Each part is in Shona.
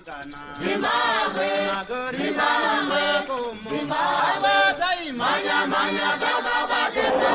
Zimbabwe, Zimbabwe, Zimbabwe, manya manya gaga batesa.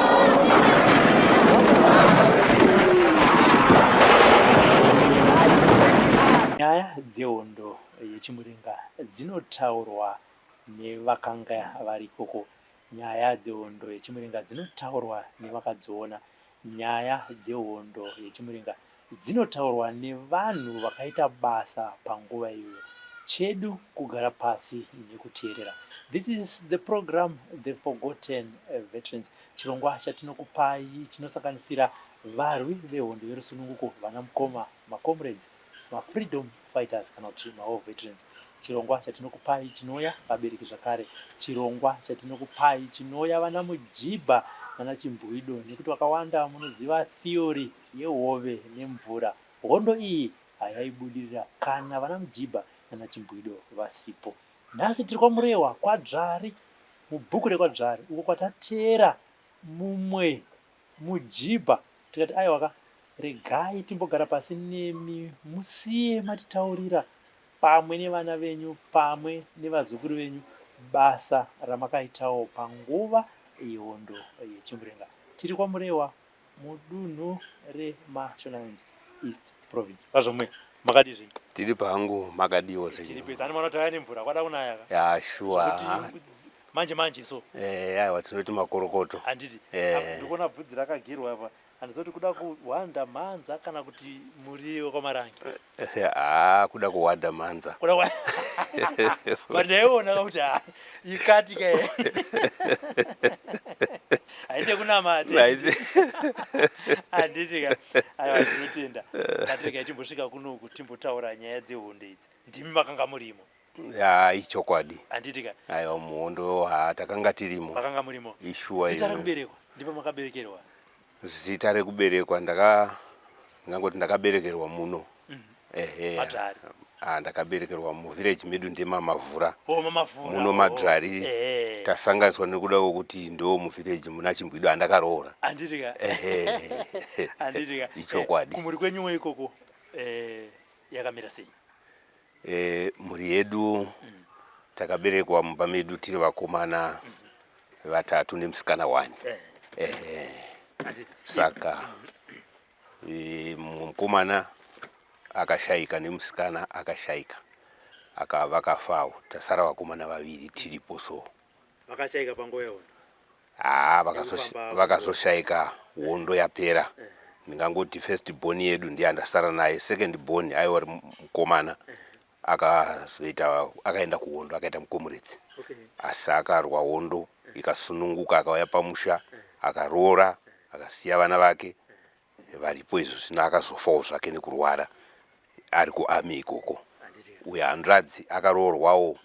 Nyaya dzehondo yechimuringa dzinotaurwa nevakanga vari ikoko. Nyaya dzehondo yechimuringa dzinotaurwa nevakadziona. Nyaya dzehondo yechimuringa dzinotaurwa nevanhu vakaita basa panguva iyoyo chedu kugara pasi nekuteerera this is the program the forgotten veterans chirongwa chatinokupai chinosanganisira varwi vehondo yerusununguko vana mukoma macomrades mafreedom fighters kana kuti mawar veterans chirongwa chatinokupai chinouya vabereki zvakare chirongwa chatinokupai chinouya vana mujibha nana chimbwido nekuti vakawanda munoziva theory yehove nemvura hondo iyi hayaibudirira kana vana Mujibha nana Chimbwido vasipo. Nhasi tiri kwaMurehwa, kwaDzvari, mubhuku rekwaDzvari uko kwatateera mumwe Mujibha tikati aiwa ka, regai timbogara pasi nemi musiye matitaurira pamwe nevana venyu pamwe nevazukuru venyu basa ramakaitawo panguva yehondo yeChimurenga. Tiri kwaMurehwa, mudunhu reMashonaland East province. Vazvomwe makadii zvenyu? Tiri pangu makadiwo zvenyu? Tiri pesa anoona tauya nemvura kwada kunaya ka? Ya shuwa. Manje manje so. Eh aiwa tinoti makorokoto. Handiti? Eh. Ah, ndikuona bvudzi rakagerwa apa. Handizoti kuda kuhwanda mhanza kana kuti muriwo kwamarange. haa kuda kuwada mhanza but ndaiona kakuti ha ikati ka haite kunamata handiti ka aiwa tinotenda katirega timbosvika kunoku timbotaura nyaya dzehondo idzi ndimi makanga murimo ya ichokwadi handiti ka aiwa muhondo ha takanga tirimo makanga murimo ishuwa zita rekuberekwa ndipo makaberekerwa Zita rekuberekwa ndaka ngangoti ndakaberekerwa muno ehe Patari. ah, ndakaberekerwa muvillage medu ndemamavhura Oh, mamavhura. muno oh. madzvari Eh. tasanganiswa nekuda kwekuti ndo muvillage muna chimbwido andakaroora Handiti ka. ehe Handiti ka. Ichokwadi. Eh, Kumuri kwenyuwo ikoko eh, yakamira sei? E, mhuri yedu takaberekwa mumba medu tiri vakomana vatatu nemusikana wani e, saka e, mumwe mukomana akashaika nemusikana akashaika aka vakafawo tasara vakomana vaviri tiripo so vakashaika panguva yaona haa vakazoshaika vaka hondo yapera eh. ndingangoti first born yedu ndiye andasara naye second born aiwa ri mukomana eh. akazoita akaenda kuhondo akaita mukomuredzi okay. asi akarwa hondo eh. ikasununguka akauya pamusha eh. akaroora akasiya vana vake varipo izvo zvino akazofawo zvake nekurwara ari kuarmy ikoko uye hanzvadzi akaroorwawo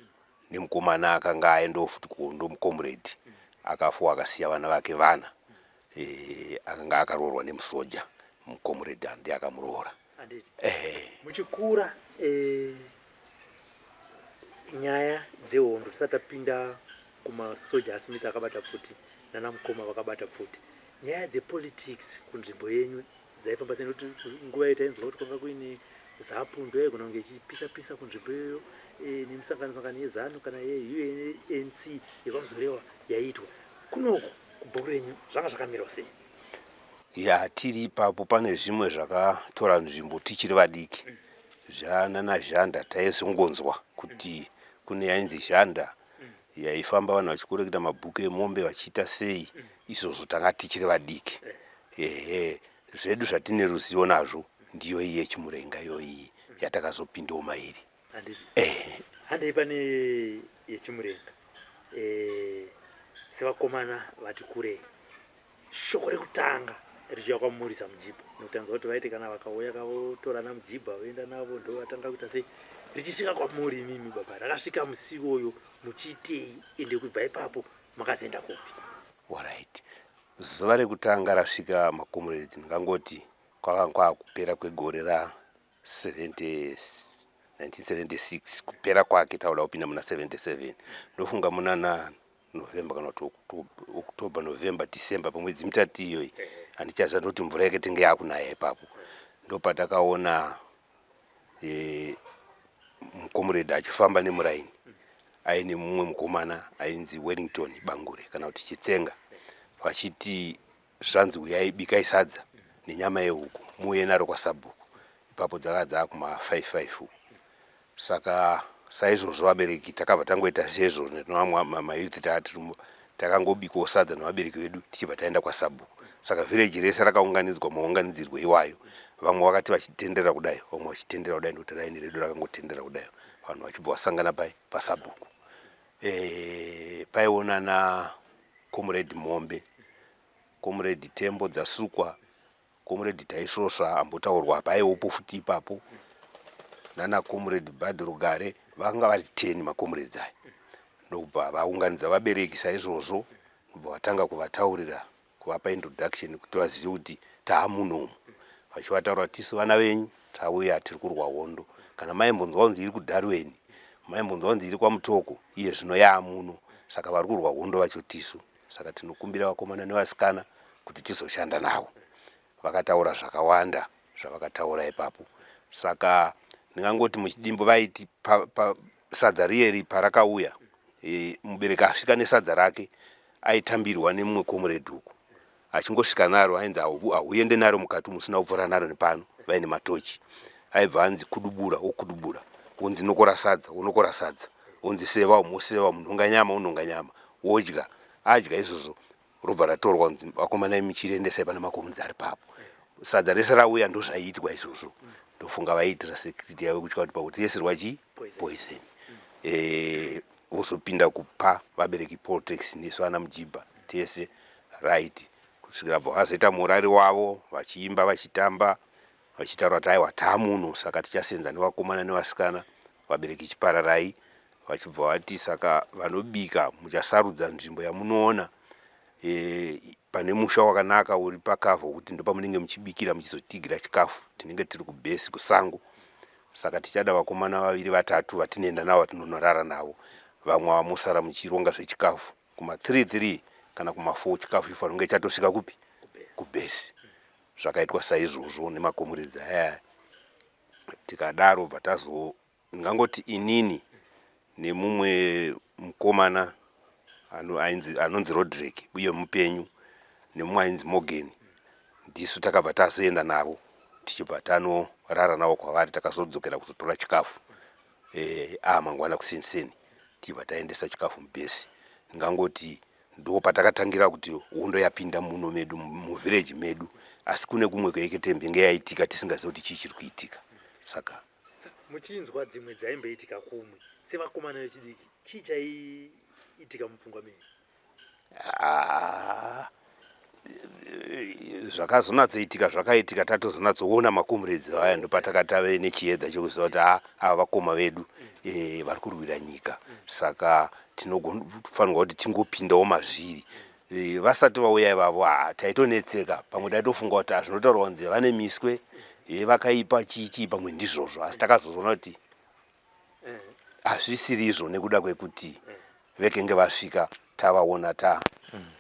nemukomana akanga aendawo futi kuhondo mucomrade akafawo akasiya vana vake vana e, akanga akaroorwa nemusoja mucomrade andi akamuroora handiti ehe muchikura eh, nyaya dzehondo tisati tapinda kumasoja asmith akabata pfuti nana mukoma vakabata pfuti nyaya dzepolitics kunzvimbo yenyu dzaifamba sei nekuti nguva iyo tainzwa kuti kwanga kuine zapu ndo yaigona kunge ichipisa pisa kunzvimbo iyoyo eh, nemisangano sangano yezanu kana yeunc yekwamuzorewa yaiitwa kunoku kubhuku renyu zvanga zvakamirwa sei ya tiri ipapo pane zvimwe zvakatora nzvimbo tichiri vadiki zvanana zhanda taizongonzwa kuti kune yainzi zhanda yaifamba vanhu vachikoreketa mabhuku emombe vachiita sei izvozvo tanga tichiri vadiki ehe zvedu zvatine ruzivo nazvo ndiyo iyi yechimurenga iyoyi yatakazopindawo mairi handiti eh. handei pane yechimurenga eh, sevakomana vati kurei shoko rekutanga richiuya kwamurisa mujibha nokuti anzwa kuti vaite kana vakauya kavotorana mujibha voenda navo ndo vatanga kuita sei richisvika kwamuri imimi baba rakasvika musi iwoyo muchiitei ende kubva ipapo makazoenda kupi orit zuva rekutanga rasvika makomuredzi ndingangoti kwakanga kwakupera kwegore ra 1976 kupera kwake tauda kupinda muna 77 ndofunga muna na november kana kuti october november december pamwedzi mitatu iyoyi handichaziva ndoti mvura yake tenge yakunaya ipapo ndopatakaona e, mukomuredhi achifamba nemuraini aine mumwe mukomana ainzi wellington bangure kana kuti chitsenga vachiti zvanzi huyai bikai sadza nenyama yehuku muuye naro kwasabhuku ipapo dzakava dzaakuma 55 uku saka saizvozvo vabereki takabva tangoita seizvozvo netomamayouth tatirimo takangobikawo sadza nevabereki vedu tichibva taenda kwasabhuku saka vhireji rese rakaunganidzwa maunganidzirwo iwayo vamwe vakati vachitendera kudai vamwe vachitendera kudai nekuti raini redu rakangotendera kudai vanhu vachibva vasangana pai pasabhuku e, eh, paionana comrade Mombe, comrade Tembo Dzasukwa, comrade Taisvosva ambotaurwa apa aiwopo futi ipapo nana comrade Bad Rugare vanga vari 10 macomrades aya ndokubva vaunganidza vabereki saizvozvo ndobva vatanga kuvataurira kuvapa introduction kuti vazive kuti taamunomu vachivataura tisu vana venyu Tauya tiri kurwa hondo. Kana maimbonzwa kunzi iri kuDarwen, maimbonzwa kunzi iri kwaMutoko, iye zvino yaamuno. Saka vari kurwa hondo vacho tisu. Saka tinokumbira vakomana nevasikana kuti tizoshanda navo. Vakataura zvakawanda zvavakataura ipapo. Saka ndingangoti muchidimbu vaiti pa, pa, sadza riyeri parakauya, e, mubereki asvika nesadza rake aitambirwa nemumwe komuredhi uku. achingosvika naro ainzi ahuende naro mukati musina kuvhura naro nepano vaine matochi aibva anzi kudubura wokudubura wonzi nokora sadza wonokora sadza wonzi seva umoseva unhonga nyama unhonga nyama wodya adya izvozvo robva ratorwa kunzi vakomana imi chiriendesai pane makomunzi ari papo sadza rese rauya ndozvaiitwa izvozvo ndofunga vaiitira security yavo kutya kuti pakuti yese rwa chii poison eh, vozopinda kupa vabereki poltex nesu ana mujibha tese Right kusvikira bva vazoita murari wavo vachiimba vachitamba vachitaura kuti aiwa taamuno saka tichasenza nevakomana nevasikana vabereki chipararai vachibva vati saka vanobika muchasarudza nzvimbo yamunoona e, pane musha wakanaka uri pakavha kuti ndopamunenge muchibikira muchizotigira chikafu tinenge tiri kubhesi kusango saka tichada vakomana vaviri vatatu vatinoenda navo vatinonorara navo vamwe vamosara muchironga zvechikafu kuma 3 3 kana kuma 4 chikafu chifanira kunge chatosvika kupi kubhesi zvakaitwa saizvozvo nemakomuridzi aya tikadaro bva tazo ngangoti inini nemumwe mukomana anonzi rodrick uye mupenyu nemumwe ainzi morgan ndisu takabva tazoenda navo tichibva tanorara navo kwavari takazodzokera kuzotora chikafu eh, ah mangwana kusinseni tibva taendesa chikafu mubhesi ndingangoti ndo patakatangira kuti hondo yapinda muno medu muvhireji medu asi kune kumwe kweeketembe nge yaitika tisingazivi kuti chii chiri kuitika saka muchinzwa dzimwe dzaimboitika kumwe sevakomana vechidiki chii chaiitika mupfungwa menyu Ah, zvakazonatsoitika zvakaitika tatozonatsoona makomuredzi aya ndopatakatave nechiedza chekuziva kuti a ava vakoma vedu e, vari kurwira nyika saka tinofanirwa kuti tingopindawo mazviri e, vasati vauya ivavo a taitonetseka pamwe taitofunga kuti zvinotaurwa kunzi vane miswe e, vakaipa chii chii pamwe ndizvozvo asi takazozoona kuti hazvisiri izvo nekuda kwekuti vekenge vasvika tavaona ta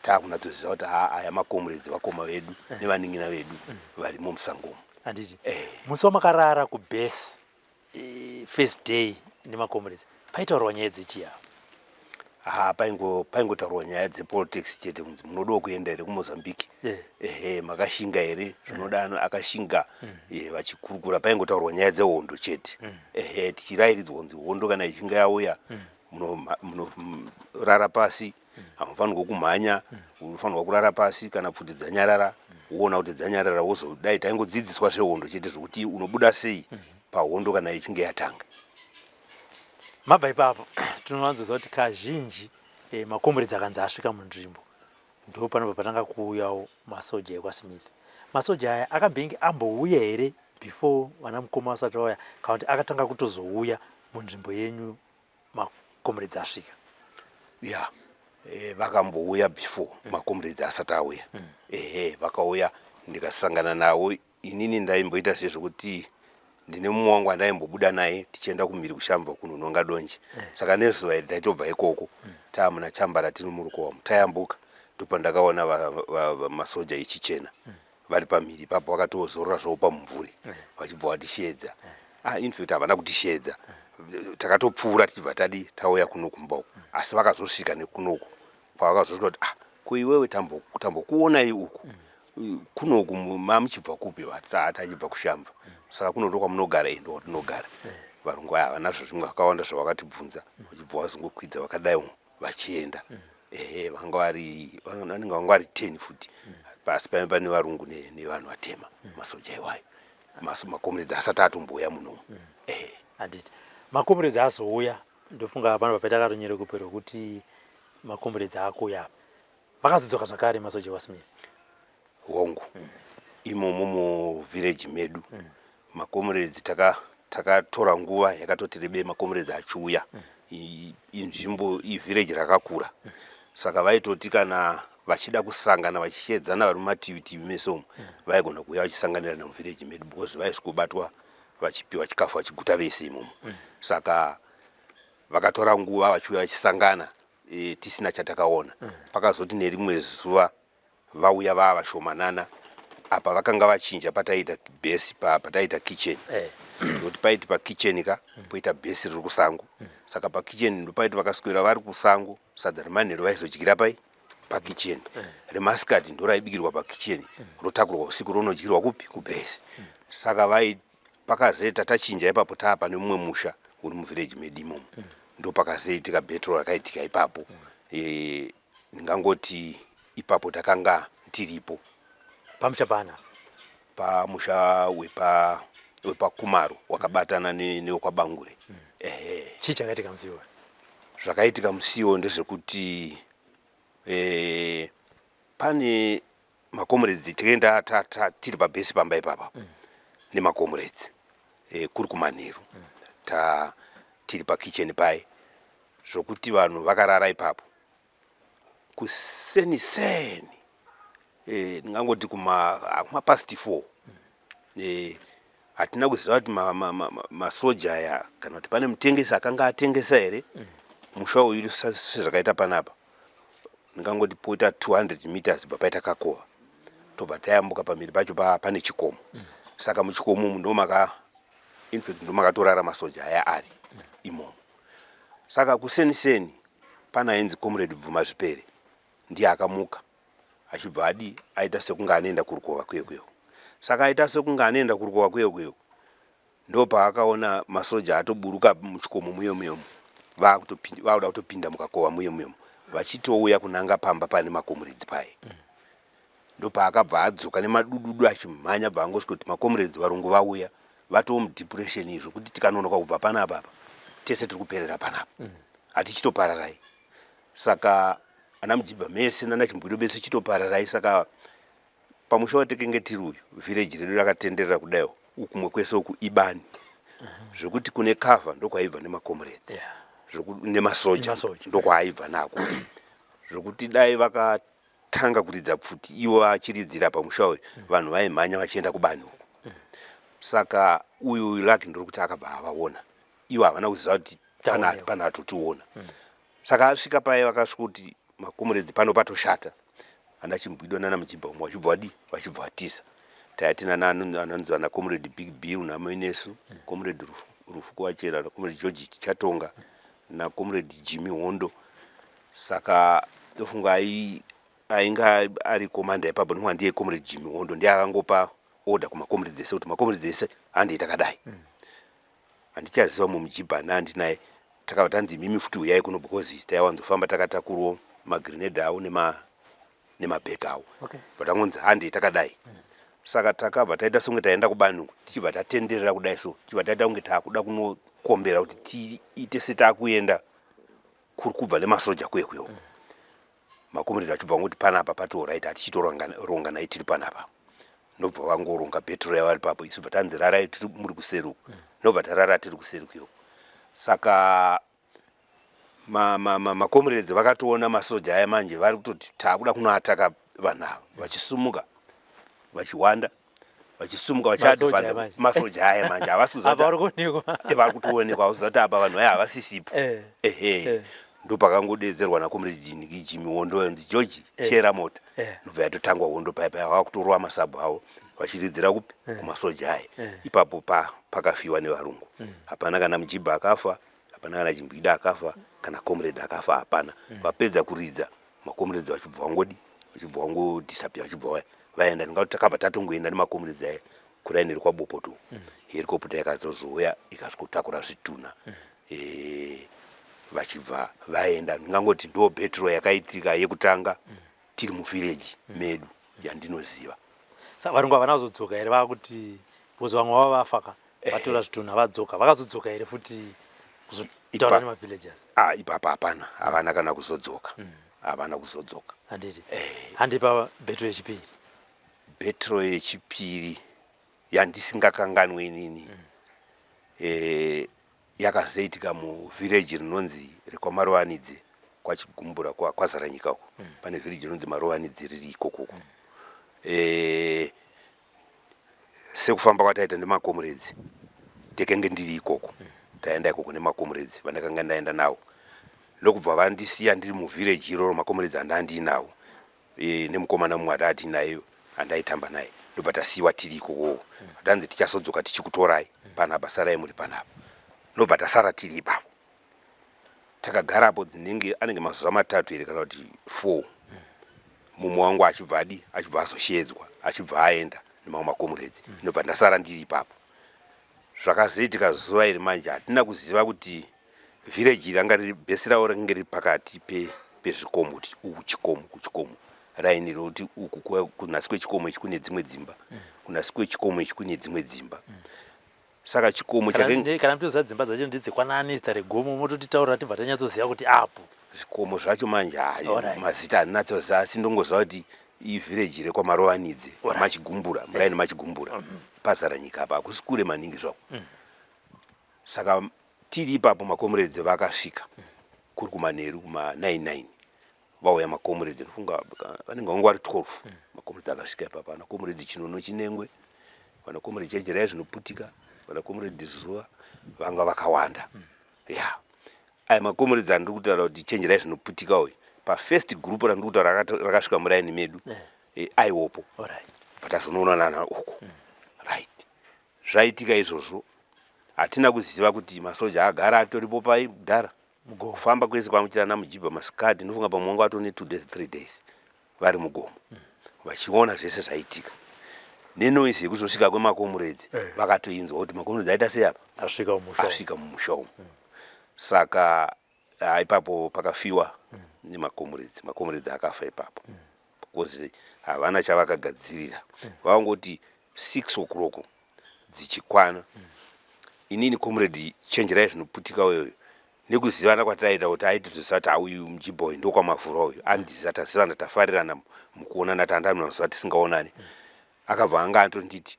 taakunatsoziva kuti haa aya makomuredzi vakoma vedu nevaningina vedu varimo musangomo handiti eh. musi wamakarara kubase eh, first day nemakomuredzi paitaurwa nyaya dzechiyavo haa paingo paingotaurwa nyaya dzepolitics chete kunzi munodawo kuenda here kumozambique eh. ehe makashinga here eh. zvinoda ano akashinga mm. eh, vachikurukura paingotaurwa nyaya dzehondo chete mm. ehe tichirayiridzwa kunzi hondo kana ichinga yauya mm. munorara pasi hamufanirwa kumhanya unofanirwa kurara pasi kana pfuti dzanyarara woona kuti dzanyarara wozodai taingodzidziswa zvehondo chete zvokuti unobuda sei pahondo kana ichinge yatanga mabva ipapo tinowanzoziva kuti kazhinji eh, makomboredzi akanzi asvika munzvimbo ndo panobva patanga kuuyawo masoja ekwasmith masoja aya akambenge ambouya here before vana mukoma vasati vauya kana kuti akatanga kutozouya munzvimbo yenyu makomboredzi asvika ya yeah. Eh, vakambouya before mm. makomrades asati auya mm. ehe vakauya ndikasangana nawo Inini ndaimboita se zvekuti ndine mumwe wangu andaimbobuda naye tichienda kumhiri kushambva kunononga donje eh. saka nezuva iri taitobva ikoko mm. taamuna chambara tiri murukowamu tayambuka ndopandakaona masoja echichena mm. vari pamhiri ipapo vakatozorora zvavo pamumvuri eh. vachibva vatisheedza eh. ah, infact havana kutisheedza takatopfuura tichibva tadi tauya kuno kumba uku mm. asi vakazosvika nekunoku kwavakazosvika kuti ah kuiwewe tambokuonai uku kuno mamuchibva kupi vatata achibva kushamva saka kuno ndokwamunogara ende watinogara varungu aya havana zvazvimwe vakawanda zvavakatibvunza vachibva vazongokwidza vakadai vachienda ehe vanga vari vanenge vanga vari ten futi pasi pae pane varungu nevanhu vatema masoja iwayo makomuredzi asati atombouya munomu ehe handiti makomuredzi azouya ndofunga pano papaita karonyerekupe rwekuti makomuredzi akuuya apa vakazodzoka zvakare masoja wasmith hongu mm. imomo muvhireji medu mm. makomuredzi taka takatora nguva yakatoti rebei makomuredzi achiuya inzvimbo ivhireji rakakura saka vaitoti kana vachida kusangana vachishedzana vari mumativitivi mese umu vaigona kuuya vachisanganira nemuvhireji medu because vaisikobatwa vachipiwa chikafu vachiguta vese imomo saka vakatora nguva vachiuya vachisangana e, tisina chatakaona mm. pakazoti nerimwe zuva vauya vava vashomanana apa vakanga vachinja pataiita bhesi pataiita kitchen eh. nokuti paiti pakitchen ka mm. poita bhesi riri kusango mm. saka pakitchen ndopaiti vakaswera vari kusango sadza remanhero vaizodyira pai pakitchen eh. remasikati ndoraibikirwa pakitchen mm. rotakurwa usiku ronodyirwa kupi kubhesi saka vaiti pakazeta tachinja ipapo taapa nemumwe musha uri muvillage medu imomo mm. ndo pakazoitika betro rakaitika ipapo mm. e, ndingangoti ipapo takanga tiripo pamusha pana pamusha wepa wepakumaro wakabatana newekwabangure mm. ehe chii chakaitika musiwo zvakaitika musiwo ndezvekuti e, pane makomuredzi tikaenda tiri pabhesi pamba ipapa mm. nemakomuredzi e, eh, kuri kumanheru mm. ta tiri pakicheni paye zvokuti vanhu vakarara ipapo kuseni seni e, ndingangoti kumapasti four mm. Eh, hatina kuziva kuti masoja ma, ma, ma, ma aya kana kuti pane mutengesi akanga atengesa here mm. musha uyu sezvakaita panapa ndingangoti poita 200 meters bva paita kakova tobva tayambuka pamhiri pacho pa, pane chikomo mm. saka muchikomo umu ndomaka infact ndomakatorara masoja aya ari mm. imomo saka kuseniseni pana ainzi comrade bvuma zvipere ndiye akamuka achibva adi aita sekunge anoenda kurukova kuye kuyo saka aita sekunge anoenda kurukova kuye kuyo ndopaakaona masoja atoburuka muchikomo muyo muyomo vakuda kutopinda mukakova muyo muyomo vachitouya kunanga pamba pane makomuredzi paye mm. ndopaakabva adzoka nemadududu achimhanya bva angosvika kuti makomuredzi varungu vauya vatoo mudepression izvo kuti tikanonoka kubva panapa apa tese tiri kuperera panapa mm. hatichitopararai mm. saka ana mujibha mese nana chimbwiro bese chitopararai saka pamusha watekenge tiri uyu vhireji redu rakatenderera kudaiwo ukumwe kwese uku ibani zvekuti kune kavha ndokwaibva nemakomuredzi nemasoja ndokwaaibva nako zvekuti dai vakatanga kuridza pfuti ivo vachiridzira pamusha uyu vanhu vaimhanya vachienda kubani uku saka uyu laki ndiri kuti akabva avaona ivo havana kuziva kuti pane atotiona mm. saka asvika paye vakasvika kuti makomuredzi pano patoshata ana chimbwidwa nana mujibha umwe vachibva vadii vachibva vatiza tayatina anonzi ana comrade big bill namaenesu mm. comrade rufu kuvachera nacomrade george chatonga nacomrade jimmy hondo saka tofunga ainga ari komanda ipapa ndinwa ndiye comrade jimmy hondo ndiye akangopa order kumacomrades ese kuti macomrades ese handei takadai mm. handichaziva mumwe mujibhana andinaye takabva tanzi imimi futi huyai kuno because taiwanzofamba takatakurwo magrenade awo nema nemabheki awo okay. but angonzi handei takadai mm. saka takabva taita songe taenda kubani uku tichibva tatenderera kudai so tichibva taita kunge taakuda kunokombera kuti tiite setakuenda kuri kubva nemasoja kuye kuyo mm. makomiridzi achibva vanguti panapa patoo right hatichitoronganai tiri panapa nobva vangoronga bhetro yavo ari papo isu bva tanzi rarai tiri muri kuseri uku mm. nobva tarara tiri kuseri kuyo saka makomiredzi ma, ma, ma vakatoona masoja aya manje vari kutoti taakuda kunoataka vanhu ava vachisumuka vachiwanda vachisumuka vachiadvance masoja aya manje havasivari kutoonekwa hauzati apa vanhu vaya havasisipo eh. ehe eh. ndopakangodedzerwa nakomrejinigijimi hondo yonzi georgi eh. shera mota ndobva yatotangwa hondo paya paya vava kutorova masabhu avo vachidzidzira kupi kumasoja aya ipapo pakafiwa nevarungu mm. hapana kana mujibha akafa hapana kana chimbwida akafa kana comrade akafa hapana mm. vapedza kuridza makomuredzi vachibva vangodi vachibva vangodisapia vachibva vaya vaenda ndingati takabva tatongoenda nemakomuredzi aye kuraini rekwabopoto mm. herikoputa yakazozouya ikasikotakura zvitunha mm. eh, vachibva vaenda ndingangoti ndo betro yakaitika yekutanga mm. tiri muvhireji mm. medu yandinoziva sa varungu havana kuzodzoka here vakuti bcoz vamwe vava vafaka vatora zvitunha vadzoka vakazodzoka here futi kuzotaura nemavillagers ah, ipapa hapana havana kana kuzodzoka mm. havana kuzodzoka handiti eh. handipa betro yechipiri betro yechipiri yandisingakanganwe inini mm. eh, yakazoitika muvhireji rinonzi rekwamarowanidzi kwachigumbura kwazaranyika uko mm. pane vhireji rinonzi marowanidzi riri ikokoko mm. eh, sekufamba kwataita nemakomuredzi ndekenge ndiri ikoko taenda ikoko nemakomuredzi vandakanga ndaenda nawo ndokubva vandisiya ndiri muvhireji iroro makomuredzi andandiinawo e, nemukomana mumwe atati naye andaitamba naye ndobva tasiyiwa tiri ikokowo tanzi tichasodzoka tichikutorai panapa sarai muri panapa ndobva tasara tiri ipapo takagara apo dzinenge anenge mazuva matatu here kana kuti four mumwe wangu achibva adi achibva azoshedzwa achibva aenda nemamwe makomuredzi mm. ndobva mm. ndasara ndiri ipapo zvakazoitika zuva iri manje hatina kuziva kuti vhireji iri anga riri bhesi ravo rakange riri pakati pezvikomo pe kuti uku chikomo kuchikomo raini rokuti uku kunasi kwechikomo ichi kune dzimwe dzimba mm. kunasi kwechikomo ichi kune dzimwe dzimba mm. saka chikomo chakenge kana mtoziva dzimba dzacho ndedzekwanani zita regomo mototitaurira tibva tanyatsoziva kuti apo zvikomo zvacho manje hayo mazita handinatsoziva asi ndongoziva kuti ivhireji rekwamarovanidze machigumbura eh. muraini machigumbura mm-hmm. pazara nyika apa hakusi kure maningi zvako mm. saka tiri ipapo makomuredzi vakasvika mm. kuri kumanheru kuma 99 vauya makomuredhi ndofunga vanenge vanga vari 12 mm. makomuredhi akasvika ipapa ana komuredhi chinono chinengwe vana komuredhi chejeraya zvinoputika vana komuredhi zuva vanga vakawanda mm. ya yeah. aya makomuredhi andiri kutaura kuti chenjerai zvinoputika uyu pafirst group randiri kutaura rakasvika muraini medu yeah. e, aiwopo right. but azonoonanana uko mm. right zvaitika izvozvo hatina kuziva kuti masoja agara atoripo pai mudhara mugofamba kwese kwamuchira namujibha masikati ndinofunga pamwe wanga watone two days three days vari mugomo mm. vachiona zvese zvaitika nenoise yekuzosvika kwemakomuredzi eh. vakatoinzwa kuti makomuredzi aita sei apa asvika mumusha umu mm. saka ah, ipapo pakafiwa mm. nemakomuredzi makomuredzi akafa ipapo because havana chavakagadzirira vangoti six o'clock dzichikwana inini comrade chenjerai zvinoputika uyoyo nekuzivana kwataita kuti aiti toziva ti auyu mjiboy ndokwamavhura uyu andiziva tazivana tafarirana mukuonana tandamina mazuva tisingaonani akabva anga antonditi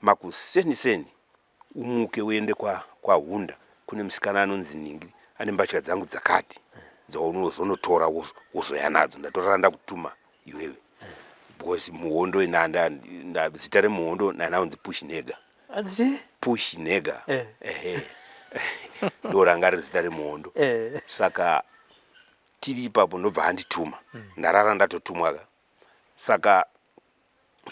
makuseni seni umuke uende kwa kwahunda kune musikana anonzi ningi ane mbatya dzangu dzakati dzaunozonotora wozoya nadzo ndatorara ndakutuma iwewe because muhondo inanda zita remuhondo nanaunzi push nega push nega eh. ehe ndoranga riri zita remuhondo eh. saka tiri ipapo ndobva andituma mm. ndarara ndatotumwaka saka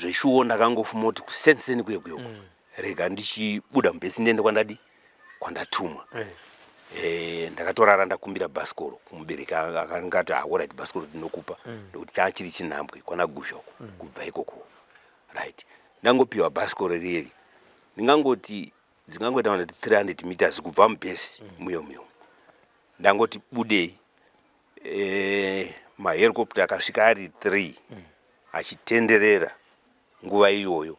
zveshuwo ndakangofumoti kusenseni kuye kuye uko mm. rega ndichibuda mubhesi ndiende kwandadi kwandatumwa eh. Eh, ndakatorara ndakumbira bhasikoro kumubereki akanga ati ahorit ah, bhasikoro ndinokupa mm. ndokuti chaa chiri chinhambwe kwanaguzha uko mm. kubva ikoko right ndangopiwa bhasikoro riyeri ndingangoti dzingangoita kuti 300 meters kubva mubhesi muyo muyo ndangoti budei eh, maherikopta akasvika ari three mm. achitenderera nguva iyoyo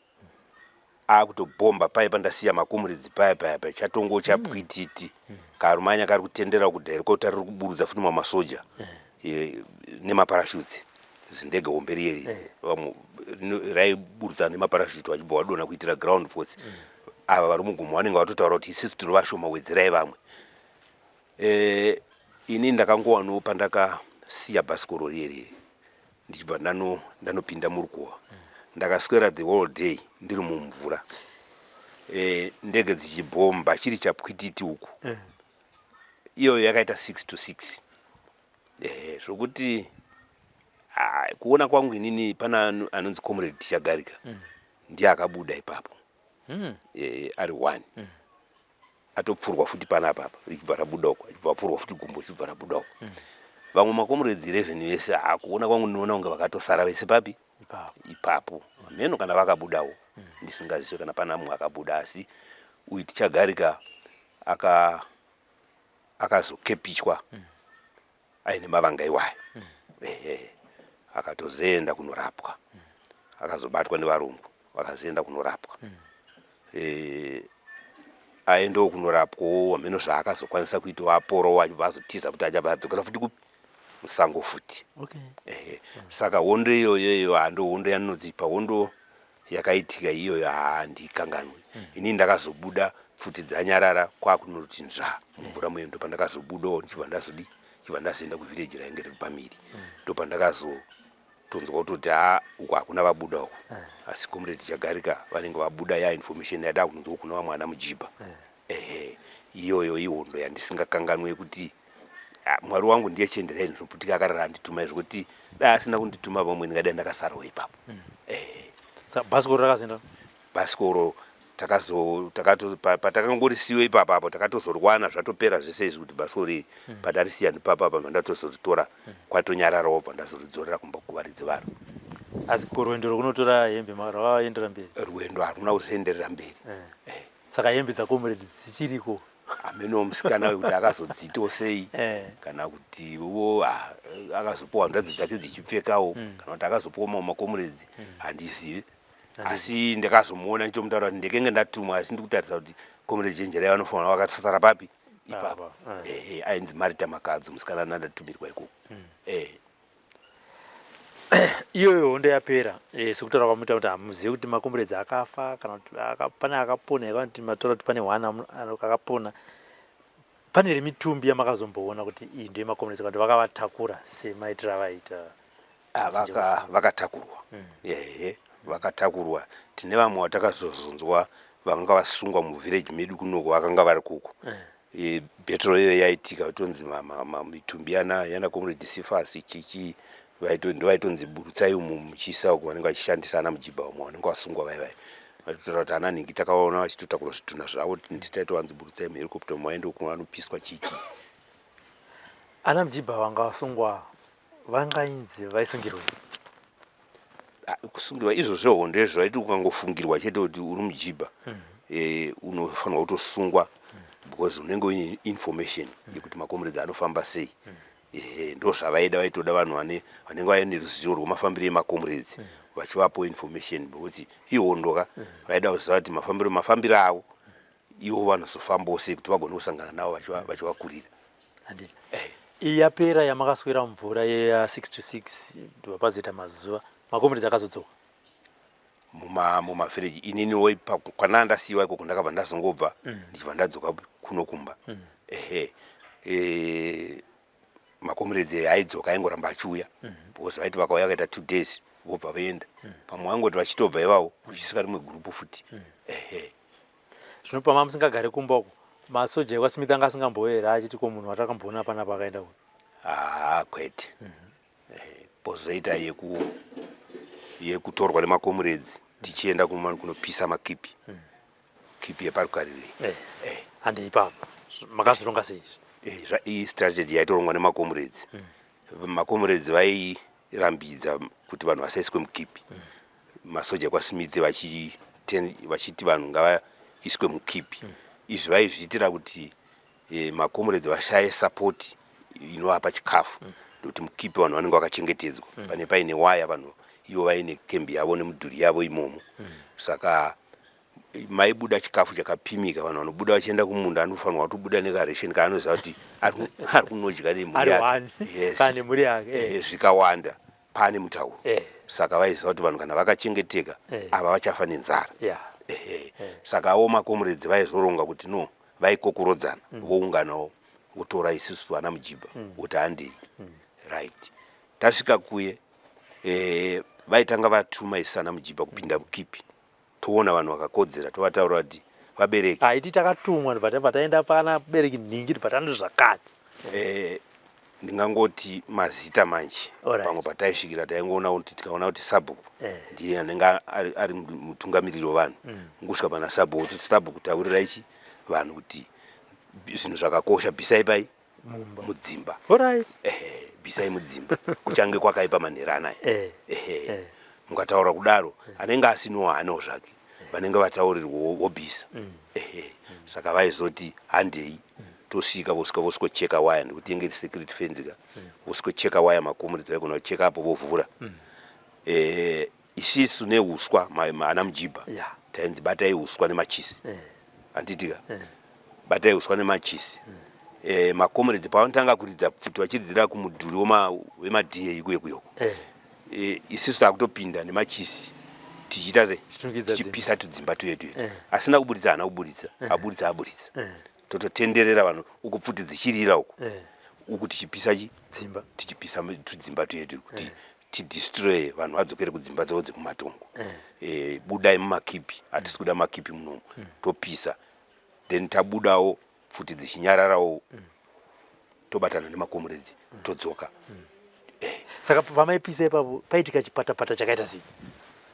akutobhomba paye pandasiya makumuridzi paya paya paya chatongo chapwititi mm. mm. karumanya kari kutendera kuda herikopta riri kuburudza futi mamasoja mm. e, nemaparashutsi zindege hombe riye eh. vamwe raiburutsa nemaparashutsi vachibva vadona kuitira ground force mm. ava vari mugumo vanenge vatotaura kuti isisu tiri vashoma wedzerai vamwe Eh, ini ndakangowano pandakasiya bhasikoro riye riye ndichibva ndano ndanopinda murukuwa ndakaswera the whole day ndiri mumvura eh, ndege dzichibhomba chiri chapwititi uku eh. iyoyo yakaita six to six eh, zvokuti ah, kuona kwangu inini pana anonzi comrade tichagarika mm. ndiye akabuda ipapo mm. eh, ari one mm. atopfurwa futi panapa apa richibva rabuda uko achibva apfurwa futi gumbo richibva rabuda uko mm. vamwe makomuredzi 11 vese hakuona kwangu ndinoona kunge vakatosara vese papi ipapo hameno kana vakabudawo mm. ndisingazive kana pana mumwe akabuda asi uyu tichagarika akazokepichwa mm. aine mavanga iwayo mm. ehe akatozoenda kunorapwa mm. akazobatwa nevarungu vakazoenda kunorapwa mm. e, aendewo kunorapwawo hameno zvaakazokwanisa kuita waporowo achibva azotiza futi achabva adzokera futi kupi musango futi okay. ehe saka hondo iyoyoyo hando hondo yaninodzipa hondo yakaitika iyoyo handikanganwi mm. ini ndakazobuda pfuti dzanyarara kwakunoti nzva mumvura muye ndopandakazobudawo ndichibva ndazodi chibva ndazoenda kuvhireji rainge riri pamiri mm. ndopandakazotonzwa kutoti ha uku hakuna vabuda uku mm. asi comrade chagarika vanenge vabuda ya information yada kunzwa kuna vamwana mujibha mm. ehe iyoyo ihondo yandisingakanganwe kuti Ah, mwari wangu ndiye chienderai ndinoputika akarara anditumai zvekuti dai asina kundituma vamwe ndingadai ndakasarawo ipapo mm. eh. bhasikoro rakazinda bhasikoro patakangorisiwe ipapa apo takatozorwana zvatopera zvese izvi kuti bhasikoro iri mm. patarisiya ndipapa apa ndatozoritora mm. kwatonyarara wobva ndazoridzorera kumba kuvaridzi varo asi kurwendo rwekunotora hembe rwakaendera mberi rwendo haruna kuzoenderera mberi eh. Eh. saka hembe dzakomrade dzichiriko ameno musikana wekuti akazodzito sei eh. kana kuti wo ah, akazopiwa hanzvadzi dzake dzichipfekawo mm. kana kuti akazopiwa mawo makomuredzi mm. handizive asi ndakazomuona nditomutaura kuti ndekenge ndatumwa asi ndi kutarisa kuti komuredzi chenjera yavo anofanira vakatsara papi ipapa ah, ah. eh, eh, ainzi marita makadzo musikana nandatumirwa ikoko mm. iyoyo hondo yapera eh, sekutaura kwamuita kuti hamuzive kuti makomburedzi akafa kana kuti pane akapona here kana kuti mataura kuti pane hwana akapona pane here mitumbi yamakazomboona kuti iyi ndo yemakomburedzi kana kuti vakavatakura semaitiro avaita ah, vakatakurwa hmm. ehe vakatakurwa tine vamwe vatakazozonzwa vakanga vasungwa muvhireji medu kunoko vakanga vari kuko eh. e, battle iyo yaitika kutonzi mitumbi yana yana comrade Sifasi chichi ndovaitonzi burutsai umu muchiisa uko vanenge vachishandisa ana mujibha umo vanenge vasungwa vai vai vaitotaura kuti ana nhingi takaona vachitotakura zvitunha zvavo nditaitovanzi burutsai muherikopta umo vaende uko vanopiswa chichi ana mujibha vanga vasungwa vangainzi vaisungirwei ah, kusungirwa izvo zvehondo izvo aiti ukangofungirwa chete kuti uri mujibha mm -hmm. e, unofanirwa kutosungwa mm -hmm. because unenge uine information mm -hmm. yekuti makomuredzi anofamba sei mm -hmm. ehe ndo zvavaida vaitoda vanhu vane vanenge vaine ruzivo rwemafambiro emakomuredzi mm -hmm. vachivapo information bekuti ihondo ka mm -hmm. vaida kuziva kuti mafambiro mafambiro avo ivo vanozofambawo sei kuti vagone kusangana navo vachivakurira handiti eh. iyi yapera yamakaswera mvura yeya 6 to 6 ndobva pazoita mazuva makombiri dzakazodzoka mumavhireji muma ininiwo kwanaa ndasiyiwa ikoko ndakabva ndazongobva mm. ndichibva ndadzoka kuno kumba mm. ehe e, makomiredzi aidzoka aingoramba achiuya mm. because vaiti vakauya vakaita two days vobva vaenda mm. pamwe vaingoti vachitobva ivavo kuchisika rimwe gurupu futi mm. ehe zvino pama musingagare kumba uko masoja ekwasimita anga asingambouye here achiti ko munhu watakamboona pana pakaenda uyu haa kwete pozoita mhm. eh, yeku yekutorwa nemakomuredzi tichienda kumani kunopisa makipi mhm. kipi yeparukarirei eh, eh. hande ipapa makazvironga sei izvi iyi strategy yaitorongwa nemakomuredzi mhm. makomuredzi rambidza kuti vanhu vasaiswe mukipi mm. masoja kwasmith vachiti vanhu ngavaiswe mukipi mm. izvi vaizviitira kuti e, makomuredzi vashaye sapoti inovapa chikafu mm. nekuti mm. mukipi vanhu vanenge vakachengetedzwa mm. pane paine waya vanhu ivo vaine kembi yavo nemudhuri yavo imomo mm. saka maibuda chikafu chakapimika vanhu vanobuda vachienda kumunda anofanirwa kutobuda nekaration kaanoziva kuti ari kunodya nemhuri yakenemhuri yake eh. eh, zvikawanda pane mutauro eh. saka vaiziva kuti vanhu kana vakachengeteka ava vachafa nenzara saka awo makomuredzi vaizoronga kuti no vaikokorodzana mm. vounganawo votora isisu vana mujiba mm. kuti handei mm. right tasvika kuye vaitanga vatuma isana mujiba kupinda mukipi toona vanhu vakakodzera tovataura kuti vabereki haiti takatumwa ndibva taenda pana bereki nhingi ndibva tano zvakati eh, ndingangoti mazita manje pamwe pataisvikira taingoona kuti tikaona kuti sabhuku eh. ndiye anenge ari mutungamiriri wevanhu mm. ngusvika pana sabhuku kuti sabhuku taurirai chi vanhu kuti zvinhu zvakakosha bvisai pai mudzimba ehe bvisai mudzimba kuchange kwakaipa manhero anaya eh. ehe eh. mukataura kudaro eh. anenge asinowo hanewo zvake vanenge vataurirwawo wobvisa mm. ehe mm. saka vaizoti handei mm. tosvika vosvika vosvikocheka waya nekuti inge iri security fence ka vosvikocheka waya makomo ridzai kuona kucheka apo vovhura ehe isisu neuswa ma- ma- ana mujibha Yeah. tainzi batai uswa nemachisi Eh. handitika batai uswa nemachisi Eh, makomeredzi pavanotanga kuridza pfuti vachiridzira kumudhuri wema- wemadhiya ikuye kuyoko Eh. Eh, isisu takutopinda nemachisi tichiita se Tichitungidza dzimba. tichipisa tudzimba tuye tuye Eh. asina kuburitsa haana kuburitsa aburitsa aburitsa Eh. tototenderera vanhu uku pfuti dzichirira uku Eh. uku tichipisa chi dzimba tichipisa mu- tudzimba tuye tuye kuti tidestroye vanhu vadzokere kudzimba dzavo dzekumatongo eh. eh, budai mumakipi hatisi kuda makipi munomu mm. topisa then tabudawo pfuti dzichinyararawo mm. tobatana nemakomuredzi mm. todzoka eh. saka pamaipisa ipapo paitika chipatapata chakaita sei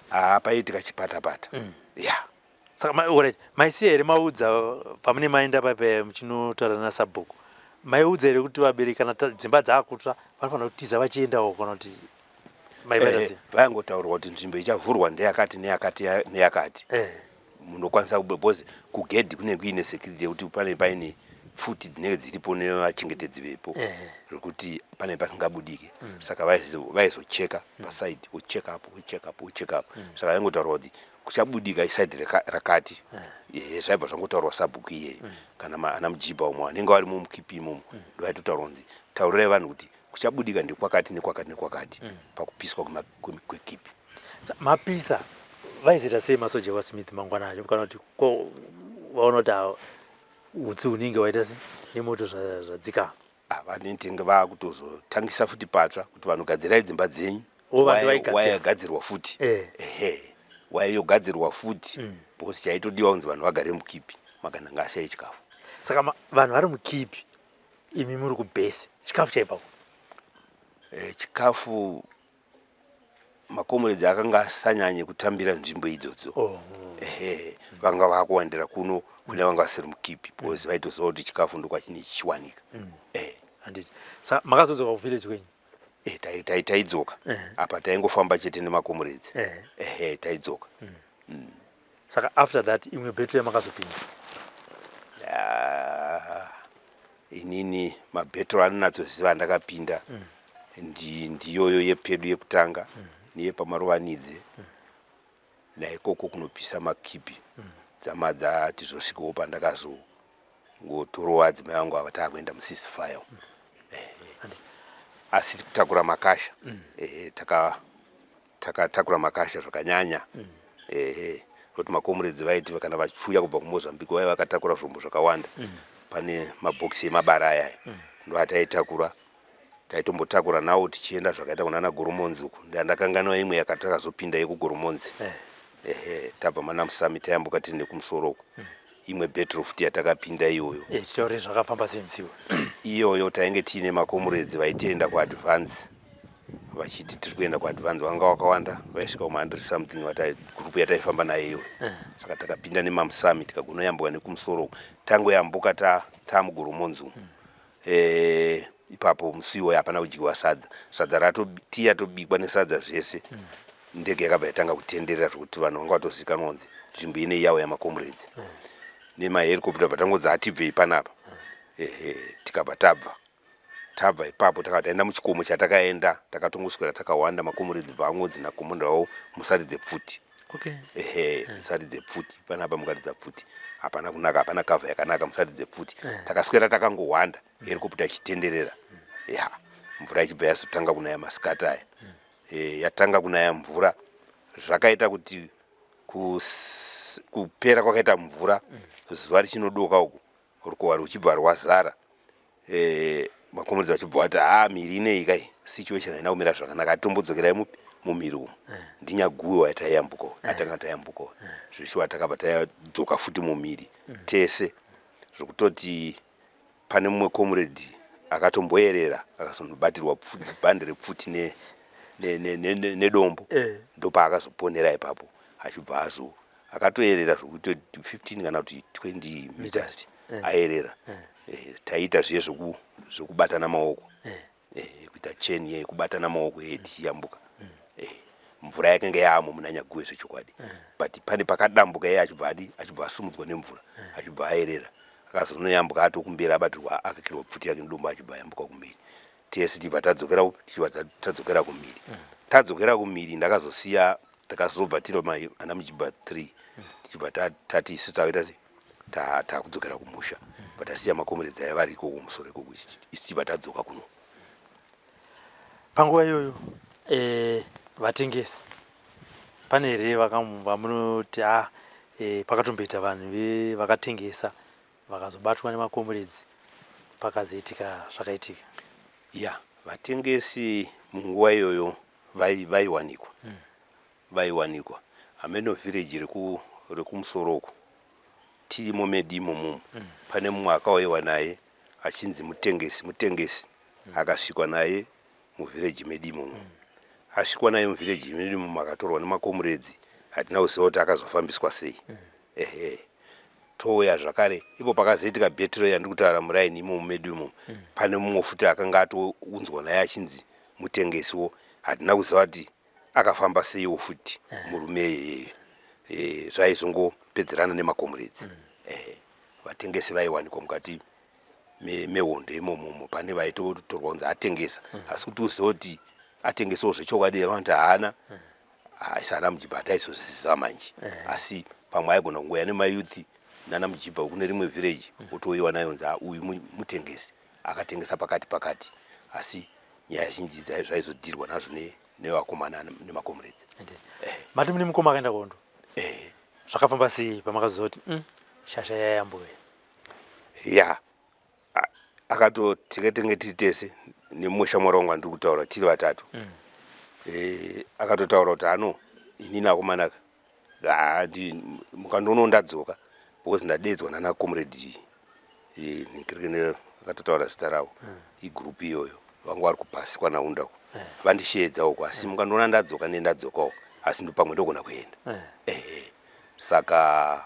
haa ah, paitika chipatapata ya saka ma, right. maisiya here maudza pamune maenda pape muchinotaura nasabhuku maiudza here kuti vabereki kana dzimba dzaakutsva vanofanira kutiza vachiendawo kana kuti eh, vayangotaurwa kuti nzvimbo ichavhurwa ndeyakati neyakati neyakati eh. munokwanisa because kugedhi kunenge kuine security yekuti pane paine futi dzinenge dziripo nevachengetedzi vepo eh. zvekuti pane pasingabudike mm. saka vaizocheka mm. pasaidi wocheka apo wocheka apo wocheka apo mm. saka vaingotaurwa kuti kuchabudika isaidi rakati eh, zvaibva zvangotaurwa sabhuku iyeyi mm. kana ana mujibha umwe vanenge vari mumukip imomo mm. ndovaitotaura kunzi taurirai vanhu kuti kuchabudika ndikwakati nekwakati nekwakati mm. pakupiswa kwekipi mapisa vaizoita sei masoja vasmith mangwana acho kana kuti vaona kuti utsi hunenge waita nemoto zvadzikama Ah, vanetenge vakutozotangisa futi patsva kuti vanhu gadzirai dzimba dzenyu Oh, vanhu Waya- vaigadzira. waya yagadzirwa futi Eh. ehe waya yogadzirwa futi Mm. because chaitodiwa kunzi vanhu vagare mukipi magana ngaashaye chikafu saka ma- vanhu vari mukipi imi muri kubhesi chikafu chaipako Eh, chikafu makomuredzi akanga asanyanye kutambira nzvimbo idzodzo oh. ehe vanga vakuwandira kuno kune vanga vasiri mukipi because vaitoziva kuti chikafu ndokwachine chichiwanika mm. eh. sa makazodzoka kuvillage kwenyu eh, taidzoka eh. apa taingofamba chete nemakomuredzi ehe taidzoka mm. mm. saka after that imwe battery yamakazopinda yeah. inini mabhetro anonatsoziva ndakapinda mm. ndi ndiyoyo yepedu yekutanga mm. niye pamarovanidze mm. naikoko kunopisa makipi mm. dzama dzati zvosvikawo pandakazongotorowa dzimai vangu ava taakuenda musisi fire mm. eh, eh. asi kutakura makasha mm. eh, taka takatakura makasha zvakanyanya mm. ehe kuti makomuredzi vaiti kana vachiuya kubva kumozambique vaiva vakatakura zvombo zvakawanda mm. pane mabhokisi emabara ayayo mm. ndoataitakura taitombotakura nawo tichienda zvakaita kunana goromonzi uku ndandakanganwa imwe yakatakazopinda yekugoromonzi eh. ehe tabva manamusami tayambuka tiri nekumusoro uku mm. imwe battle futi yatakapinda iyoyo eh, titaure zvakafamba sei musiwo iyoyo tainge tiine makomuredzi vaitenda kuadvance vachiti tiri kuenda kuadvance vanga wakawanda vaisvika kuma 100 something gurupu yataifamba nayo iyoyo eh. saka takapinda nemamusami tikagonoyambuka nekumusoro tangoyambuka tamugoromonzi umu hmm. eh, ipapo musi iwoyo hapana kudyiwa sadza sadza ratotiya tobikwa nesadza zvese mm. ndege yakabva yatanga kutenderera zvekuti vanhu vanga vatozikanwa kunzi nzvimbo inei yawo yamakomredzi mm. nemaherikopta bva tangonzi hatibvei panapa mm. ehe tikabva tabva tabva ipapo takabva taenda muchikomo chatakaenda takatongoswera takawanda makomredzi bva angodzi nakomondrawo musati dzepfuti okay. ehe mm. musati dzepfuti panapa mukati dzapfuti hapana kunaka hapana kavha yakanaka musati dzepfuti mm. takaswera takangowanda herikoputa ichitenderera ya mvura ichibva yazotanga kunaya masikati aya e, yatanga kunaya mvura zvakaita kuti kus, kupera kwakaita mvura zuva richinodoka uku rukowa ruchibva rwazara e, makomuridzi vachibva vati haa miri inei kai situation haina kumira zvakanaka atitombodzokera mupi mumiri umu eh. ndinyaguwe waya taiyambuka eh. atanga tayambuka eh. zveshuwa takabva tadzoka futi mumiri mm. tese zvokutoti pane mumwe comrade akatomboyerera akazonobatirwa bhande repfuti nedombo eh. ndopaakazoponera ipapo achibva azo akatoyerera zvekuti 15 kana kuti 20 meters eh. ayerera eh. taiita zviye zvekubatana maoko eh, kuita chain ye kubatana maoko ye tichiyambuka mm. eh, mvura yakanga yaamo muna nyaguwe zvechokwadi mm. but pane pakadambuka iye achibva adi achibva asumudzwa nemvura mm. achibva aerera akazonoyambuka atokumbira abatirwa akakirwa pfuti yake nedombo achibva ayambuka kumiri tese tibva tadzokera tichibva tadzokera kumiri mm. tadzokera kumiri ndakazosiya takazobva tiri ana mujibha three tichibva tati isu takaita sei takudzokera ta kumusha but asiya makomeredzi aya vari ikoko musoro ikoko isiva tadzoka kuno panguva iyoyo eh, vatengesi pane here vamunoti a ah, eh, pakatomboita vanhu vakatengesa vakazobatwa nemakomeredzi pakazoitika zvakaitika ya vatengesi munguva iyoyo vaiwanikwa hmm. vaiwanikwa hameno village reku rekumusoro uko tirimo medi imomo mm. pane mumwe akauyewa naye achinzi mutengesi mutengesi mm. akasvikwa naye muvillage medi imomo mm. asvikwa naye muvillage medi imomo akatorwa nemakomuredzi hatina kuziva kuti akazofambiswa sei mm. ehe touya zvakare ipo pakazoitika betray yandiri kutaura muraini imomo medi imomo mm. pane mumwe futi akanga atounzwa naye achinzi mutengesiwo hatina kuziva kuti akafamba seiwo futi murume iyeye Eh, zvaizongopedzerana nemakomuredzi mm. eh, vatengesi vaiwanikwa mukati me- mehondo imomomo pane vaitotorwa kunzi atengesa mm. asi kuti uziva kuti atengesawo zvechokwadi vanoti haana mm. aisi ana mujibha ataizozviziva manje eh. asi pamwe aigona kungouya nemayouth nana mujibha kune rimwe village mm. otouyiwa nayo nzi "Ah, uyu mu- mutengesi akatengesa pakati pakati asi nyaya zhinji zvaizodirwa nazvo nevakomana nemakomuredzi eh. mati mune mukoma akaenda kuhondo eh. zvakafamba sei pamakazoti mm, shasha yayambuwe ya akatoteketenge tiri tese nemumwe shamwari wangu andiri kutaura tiri vatatu mm. eh, akatotaura kuti ano inini akomanaka handi mukandoonawo ndadzoka because ndadeedzwa nana comrade eh, nkirikene akatotaura zita ravo hmm. igroup iyoyo vanga vari kupasi kwanaunda uko eh. vandisheedza uko asi eh. mukandiona ndadzoka ne ndadzokawo asi ndopamwe ndogona kuenda saka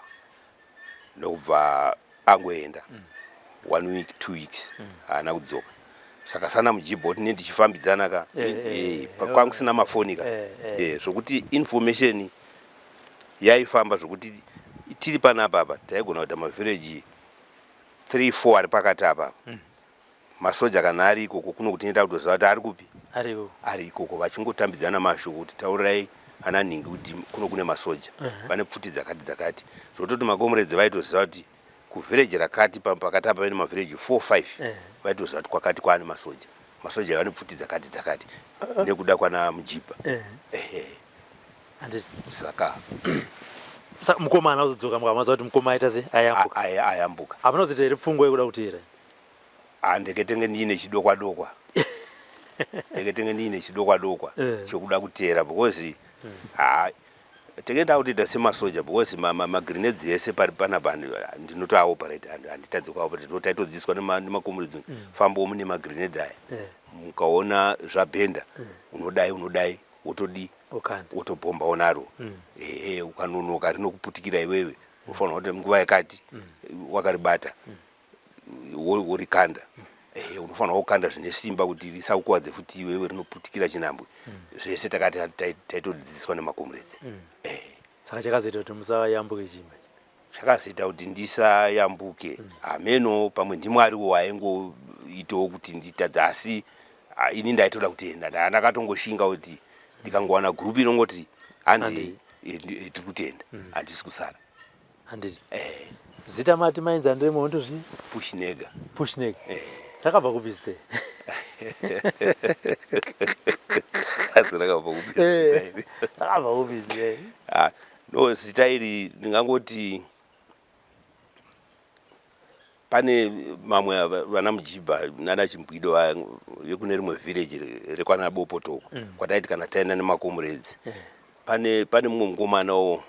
ndokubva angoenda mm. one week two weeks mm. haana mm. kudzoka saka sana mujibha kuti ne ndichifambidzana ka eh, eh, eh, eh kwanga kusina mafoni ka eh, eh. eh, zvokuti information yaifamba zvokuti tiri panapa apa taigona kuita mavhireji three four ari pakati apa apa mm. masoja kana ari ikoko kuno kuti neta kutoziva kuti ari kupi ariko ari ikoko vachingotambidzana mashoko kuti taurirai ana nhingi kuti kuno kune masoja vane pfuti dzakati dzakati zvototi makomuredzi vaitoziva kuti kuvhireji rakati pakati apa vene mavhireji four five vaitoziva kuti kwakati kwaane masoja masoja vane pfuti dzakati dzakati nekuda kwana mujibha saka mukomana uzodzoka mukamaziva kuti mukoma aita se ayambuka ayambuka hamuna kuzita here pfungwa yekuda kuti here handeke tenge ndiine chidokwa dokwa tenge tenge ndiine chidokwa dokwa eh. chokuda kuteera because hmm. ha tenge takutoita semasoja because magrenades ese pari panapa ndinotoaoperate handitadze kuaoperate no taitodzidziswa nemakomuridzi hmm. fambo mune magrenade aya eh. mukaona zvabhenda hmm. unodai unodai wotodii wotobhomba onaro ehe ukanonoka rinokuputikira iwewe unofanira kuti nguva yakati wakaribata worikanda eh, unofanira kukanda zvine simba kuti risakukwadze futi iwewe rinoputikira chinambwe mm. zvese takati taitodzidziswa nemakomrades mm. eh. saka chakazoita kuti musayambuke chii chakazoita kuti ndisayambuke mm. hameno pamwe ndimwariwo waingoitawo kuti nditadze asi ah, ini ndaitoda kutenda ndandakatongoshinga kuti ndikangowana gurupu inongoti handi eh, eh, tiri kutenda handisi kusara handiti eh. zita mati mainzi andiremo wondozvii pushnega pushnega eh. rakabva kupi zita asi rakabva kupi eh. rakabva kupi zita ah, no zita iri ndingangoti pane mamwe vana mujibha nana chimbwido vaya vekune rimwe village rekwana bopotoko mm. kwataiti kana taenda nemakomuredzi mm. pane pane mumwe mukomana wo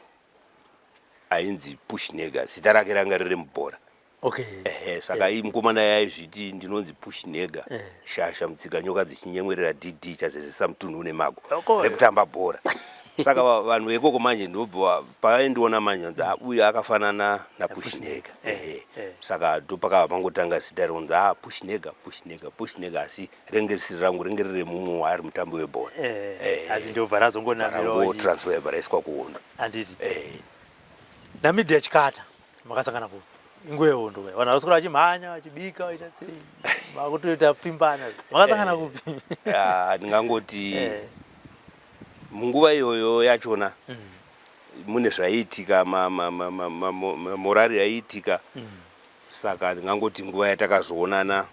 ainzi pushnega zita rake ranga riri mubhora okay. ehe saka yeah. mukomana yaizviti ndinonzi pushnega yeah. shasha mutsika nyoka dzichinyemwerera dd chazezesa mutunhu une mago rekutamba bhora saka vanhu vekoko manje ndobva pavaindiona manje anzi ah, uyu akafanana napushnega ehe eh, eh. saka ndopakava pangotanga zita ronzi a ah, pushnega pushnega pushnega asi renge risiri rangu renge riri remumwe waari mutambi webhora eh, eh, asi ndobva razongonamirwaotransferva raiswa kuhondo anditi eh. namidi yachikata makasangana ku inguva yehondo vanhu vakasokora vachimhanya vachibika vaita sei vakutoita pfimbana makasangana kupi ndingangoti munguva iyoyo yachona mm. mune zvaiitika mamorari yaiitika mm. saka ndingangoti nguva yatakazoonana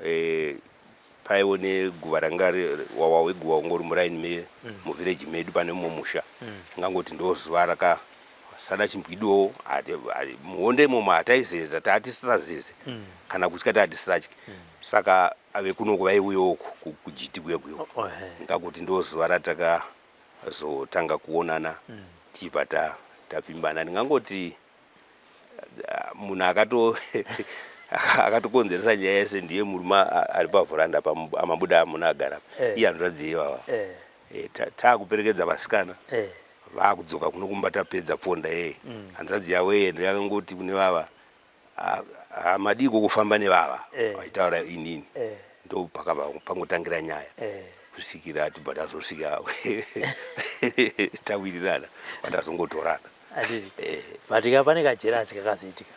eh, paiwo neguva ranga wawa weguva ungori muraini me mm. muvhireji medu pane mumwe musha mm. ungangoti ndo zuva raka sada chimbwidowo muhonde imomo hataizeza taatisisazeze mm. kana kutya taatisisatye mm. saka ave kunoko vaiuyawo kujiti kuye kuyo oh, oh, ngakuti ndo zuva ratakazotanga kuonana mm. tibva tapfimbana ndingangoti munhu akato akatokonzeresa nyaya yese ndiye murume ari pavhuranda pamabuda amuna agara eh. iye hanzvadzi ivava eh. eh, taakuperekedza vasikana vakudzoka kuno kumba tapedza pfonda yeye mm. hanzvadzi yavo yeye ndiyakangoti kune vava hamadii kokufamba nevava vaitaura inini ndopakava pangotangira nyaya kusvikira tibva tazosvika tawirirana vandazongotorana Adiri. Eh. But ka pane ka jealous kakazoitika.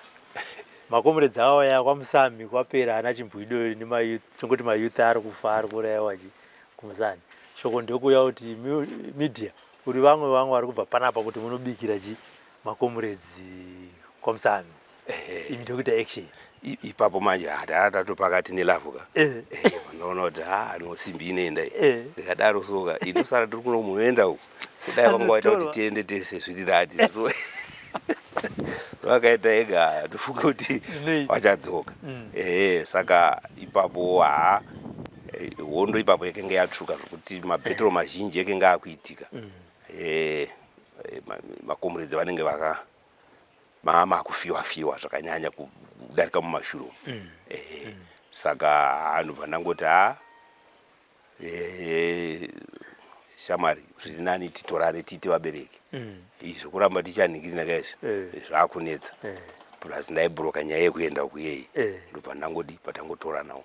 Makomrades awo ya kwamusami kwapera ana chimbwido ne ma youth tongoti ma youth ari kufa ari kuraiwa chi kumusani. Shoko ndokuya kuti media uri vamwe vamwe vari kubva panapa kuti munobikira chi makomrades kwamusami. ini ndokuita action ipapo manje hataa tatopakati nelavhu ka unoona kuti ha no simbi inoenda ndikadaro soka indosara tiri kuno muenda uku kudai vanga waita kuti tiende tese zviri radi vakaita ega tofunga kuti vachadzoka mm. ehe saka ipapo haa eh, hondo ipapo yakenge yatsvuka zvokuti mabhetro mazhinji yakenge akuitika mm. ehe eh, makomuredzi vanenge vaka mama akufiwa fiwa zvakanyanya kudarika mumashuro mm. eh, mm. saka anobva ndangoti ha eh, shamwari zviri nani titorane tiite vabereki mm. izvo kuramba tichanhingirina ka izvi eh. zvakunetsa eh. plus ndaibhuroka nyaya yekuenda kuyeyi eh. ndobva ndangodi patangotoranawo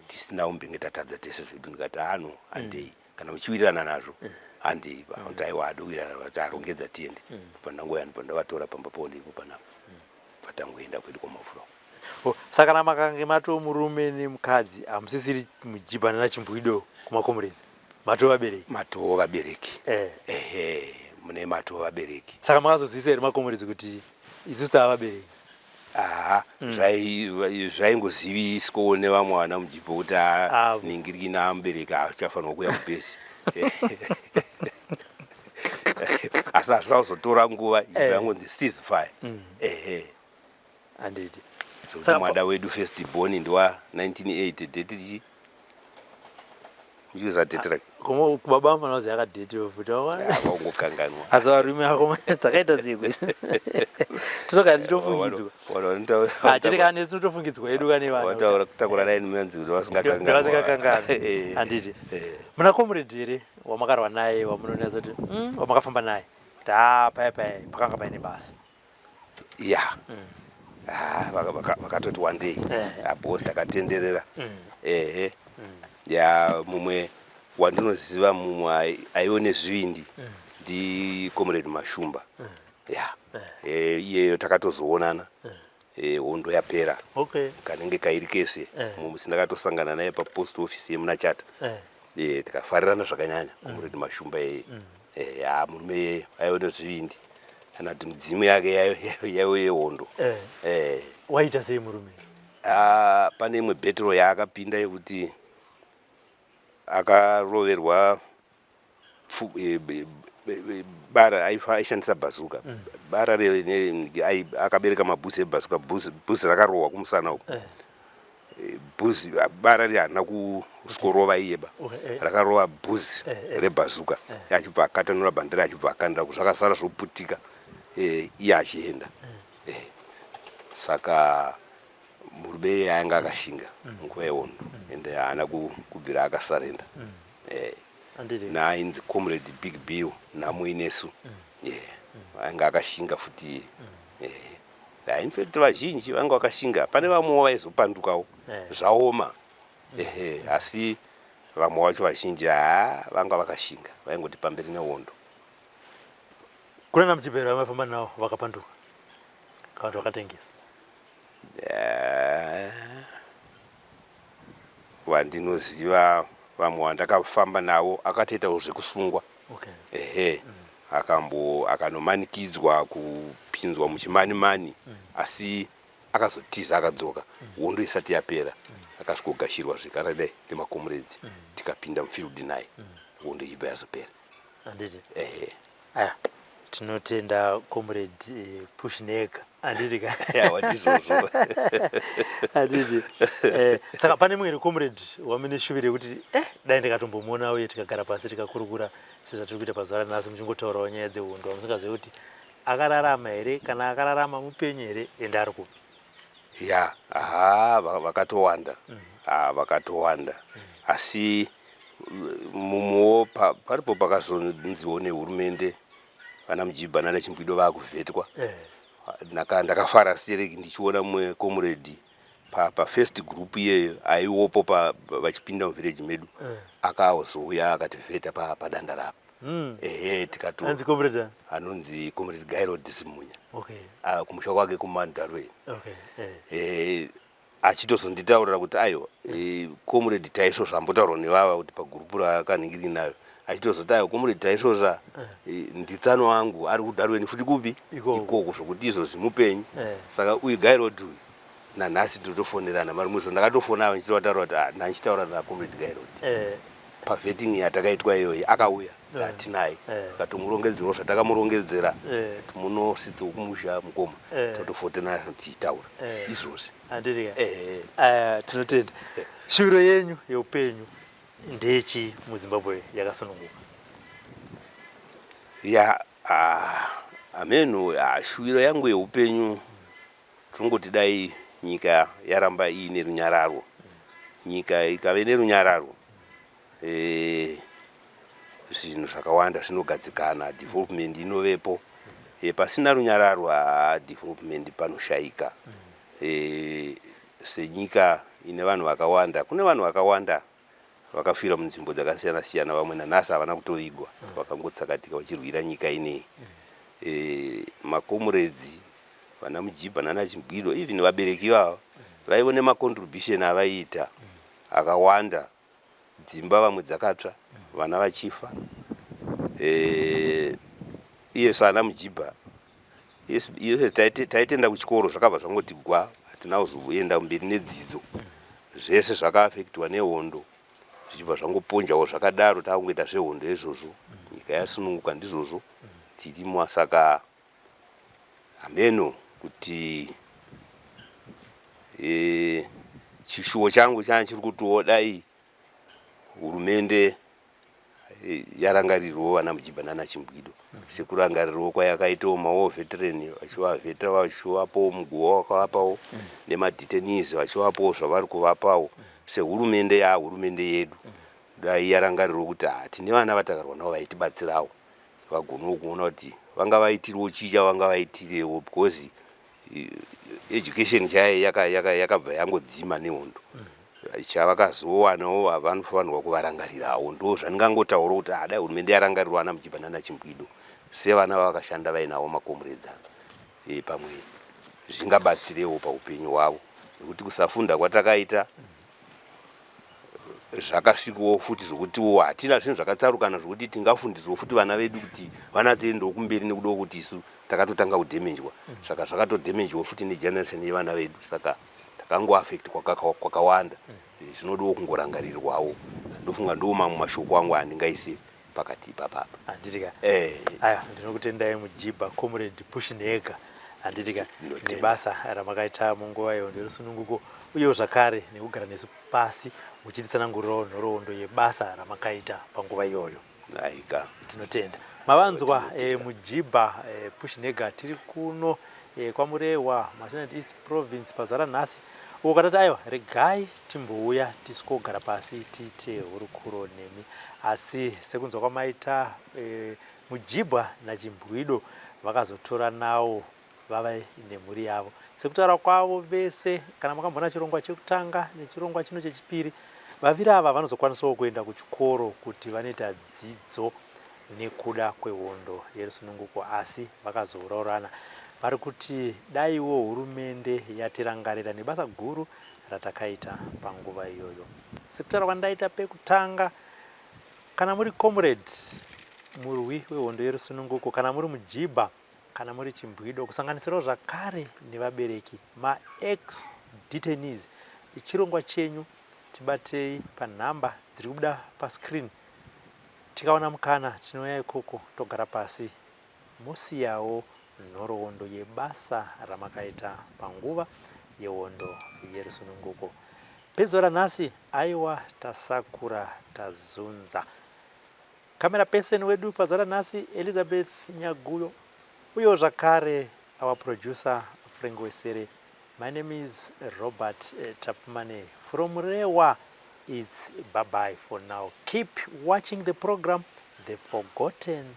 tisina umbenge tatadza tese zvedu ndikati ano handei mm. kana uchiwirirana nazvo handei vakuti aiwa hadi kuwirirana nazvo vati arongedza tiende bva ndangoya ndibva ndavatora pamba pavo ndiripo panapa bva tangoenda kwedu kwamafura Oh, saka kana makange matoo murume nemukadzi hamusisiri mujibhana nachimbwido kumakomurezi matoo vabereki matoo vabereki Eh. ehe mune matoo vabereki saka makazoziisa here makomurezi kuti isusu tava vabereki Haa zvai- zvaingoziviswawo nevamwe vana mudiki pokuti haa Avo. ningirikina amubereki achafanirwa kuuya kubhesi asi hazvina kuzotora nguva ibva Eh. yangonzi cease fire ehe handiti zvekuti Saka pa- mwada wedu first born ndiwa 1980 date tichi user date rake koma baba vangu vanozi yakadate wefuti vaungokanganwa asi varume vako dzakaita zikwe totogara tichifungidzwa ah, chete kana nesu totofungidzwa yedu kane vanhu kutakura raini menzi kuti vasingakanganwa eh. handiti eh. muna comrade here wamakarwa naye wamunonatsa kuti hmm, wamakafamba naye taa paya paya pakanga paine basa ya ah, vaka- vaka- vakatoti wandei abos takatenderera ehe ya mumwe wandinoziva mumwe ai- aive nezvivindi ndi comrade mashumba ya Eh, iyeyo takatozoonana Eh, hondo yapera okay kanenge kairi kese Eh. mumusi ndakatosangana naye papost office yemuna chata Eh. Eh, tikafarirana zvakanyanya comrade mashumba eye eya eh, murume iyeyo aive nezvivindi kana kuti midzimu yake yaive yehondo eh. eh. waita sei murume ah, pane imwe bhetro yaakapinda yekuti akaroverwa bara aishandisa bhazuka mm. bara akabereka mabhuzi ebhazuka bhuzi rakarohwa kumusana uku bhuzi bara ri harina kusvikorova iye ba eh. rakarova bhuzi eh, eh. rebhazuka achibva akatanura bhandera achibva akandira ku zvakasara zvoputika iye achienda saka murume iye aanga akashinga mm. nguva yehondo mm. ende haana kubvira akasarenda mm. naainzi comrade big bill namuinesu aanga akashinga futi iye Yeah, in fact vazhinji vanga vakashinga pane vamwewo vaizopandukawo Eh. zvaoma ehe asi vamwe wacho vazhinji haa vanga vakashinga vaingoti pamberi nehondo kunana muchipera vamafamba nawo vakapanduka kana kuti vakatengesa Eh, vandinoziva vamwe vandakafamba navo akatoitawo zvekusungwa okay. ehe mm. akambo akanomanikidzwa kupinzwa muchimani mani mm. asi akazotiza akadzoka mm. hondo isati yapera mm. akasvikogashirwa zvekare dai nemakomuredzi mm. tikapinda mufield naye mm. hondo ichibva yazopera anditi ehe aya tinotenda comrade eh, pushnek anditi ka Yawa, ndizvozvo. anditi eh, saka pane mumwe comrade wamine shuviro yekuti eh, dai ndikatombomuona uye tikagara pasi tikakurukura sezvatiri kuita pazuva ranhasi muchingotaurawo nyaya dzehondo amusingazive kuti akararama here kana akararama mupenyu here ende ari kupi ya haa va- vakatowanda haa vakatowanda asi uh, mumwewo pa- paripo pakazonziwo nehurumende vana mujibha nana chimbwido vakuvhetwa Ndaka- ndakafara stereki ndichiona mumwe comrade pa, pa first group iyeyo aiwopo pa- pa- vachipinda muvillage medu akaozouya akativheta pa, padanda rapa mm. ehe tikati anzi comrade anonzi comrade gairo disimunya okay. uh, kumusha kwake kumandarwe okay. eh. eh, achitozonditaurira kuti aiwa eh, comrade taisvo zvambotaurwa nevava kuti pagurupu rakanhingiri nayo achitozoti aiwa comrade taisvo zva eh. eh, nditsano wangu ari kudarweni futi kupi ikoko zvokuti izvo zvimupenyu eh. saka uyu gairod uyu nanhasi tinotofonerana mari muzvo ndakatofona ava ndichitovataro kuti ah, ndandichitaura nakomrade gairod eh. pavetting yatakaitwa iyoyi akauya atinaye akatomurongedzerwa eh. zvatakamurongedzera eh. kuti munositsa kumusha mukoma eh. totofotena tichitaura izvozvi tinotenda shuviro yenyu yeupenyu ndechi muzimbabwe yakasununguka ya ah, ameno ah, shuviro yangu yeupenyu Tongoti dai nyika yaramba iine runyararo, nyika ikave nerunyararo e, zvinhu zvakawanda zvinogadzikana, development inovepo e, pasina runyararo a development panoshayika e, senyika ine vanhu vakawanda, kune vanhu vakawanda vakafira munzvimbo dzakasiyana siyana vamwe nanhasi havana kutovigwa vakangotsakatika vachirwira nyika inei e, eh, makomuredzi vana mujibha nana chimbwiro even vabereki ivava vaivo nemacontribution avaiita akawanda dzimba vamwe dzakatsva vana vachifa e, iyesu ana mujibha yes yes taitenda kuchikoro zvakabva zvangoti gwa hatina kuzoenda mberi nedzidzo zvese zvakaafektiwa nehondo zvichibva zvangoponjawo zvakadaro takungoita zvehondo izvozvo nyika yasununguka ndizvozvo tirimwa saka hameno kuti e, chishuwo changu chana chiri kutiwo dai hurumende yarangarirwo vana mujiba nana chimbwido sekurangarirwo kwayakaitawo mawo veteran vachivavetera vachivapawo muguva wakavapawo nemadetenies vachivapawo zvavari kuvapawo sehurumende ya hurumende yedu dai yarangarirwo kuti ha tine vana vatakarwa navo vaitibatsirawo vagonawo kuona kuti vanga vaitirwo chii chavanga vaitirewo because education chaye yakabva yaka, yaka yangodzima nehondo mm-hmm. chavakazowanawo vanofanirwa kuvarangarirawo ndo zvandingangotaura kuti adai hurumende yarangarirwa ana muchipa nana chimbwido sevana vavakashanda vainawo makomuredzano e, eh, pamwe zvingabatsirewo paupenyu hwavo nekuti kusafunda kwatakaita zvakasvikawo futi zvokutiwo hatina zvinhu zvakatsarukana zvokuti tingafundidzwo futi vana vedu kuti vana dziendewo kumberi nekudawo kuti isu takatotanga kudhemenjwa saka zvakatodhemenjwa futi negeneration yevana vedu saka takangoaffect kwakawanda zvinodawo kungorangarirwawo ndofunga ndiwo mamwe mashoko angu andingaise pakati ipapa apa handitika eh. aya ndinokutendai mujiba comrade pushinhega handitika nebasa ramakaita munguva iyo nderusununguko uyewo zvakare nekugara nesu pasi muchititsanangurirawo nhoroondo yebasa ramakaita panguva iyoyo aika tinotenda mavanzwa e, mujiba e, eh, pushinhega tiri kuno e, kwamurewa mashinat east province pazara nhasi ukatati aiwa regai timbouya tisu kogara pasi tiite hurukuro nemi asi sekunzwa kwamaita e, mujibwa nachimbwido vakazotora nawo vava nemhuri yavo sekutaura kwavo vese kana makambona chirongwa chekutanga nechirongwa chino chechipiri vaviri ava vanozokwanisawo kuenda kuchikoro kuti vanoita dzidzo nekuda kwehondo yerusununguko asi vakazouraurana vari kuti daiwo hurumende yatirangarira nebasa guru ratakaita panguva iyoyo sekutaura kwandaita pekutanga kana muri comrade murwi wehondo yerusununguko kana muri mujibha kana muri chimbwido kusanganisirawo zvakare nevabereki maex detainees chirongwa chenyu tibatei panhamba dziri kubuda pascreen tikaona mukana tinouya ikoko togara pasi mosiyawo nhoroondo yebasa ramakaita panguva yehondo yerusununguko. Pezuva ranhasi, aiwa tasakura tazunza. Camera person wedu pazuva ranhasi Elizabeth Nyaguyo, uyewo zvakare our producer Frank Wesere. My name is Robert eh, Tapfumane from Rewa. It's bye-bye for now. Keep watching the program, The Forgotten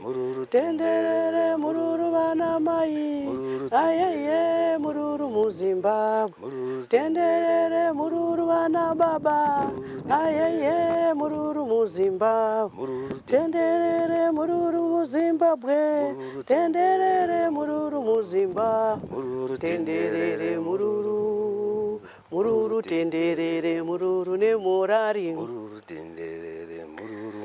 mururu tenderere mururu vana mai ayeye mururu muzimbabwe mururu tenderere mururu vana baba ayeye mururu muzimbabwe mururu tenderere mururu muzimbabwe tenderere mururu muzimbabwe mururu tenderere mururu mururu tenderere mururu nemorari mururu tenderere mururu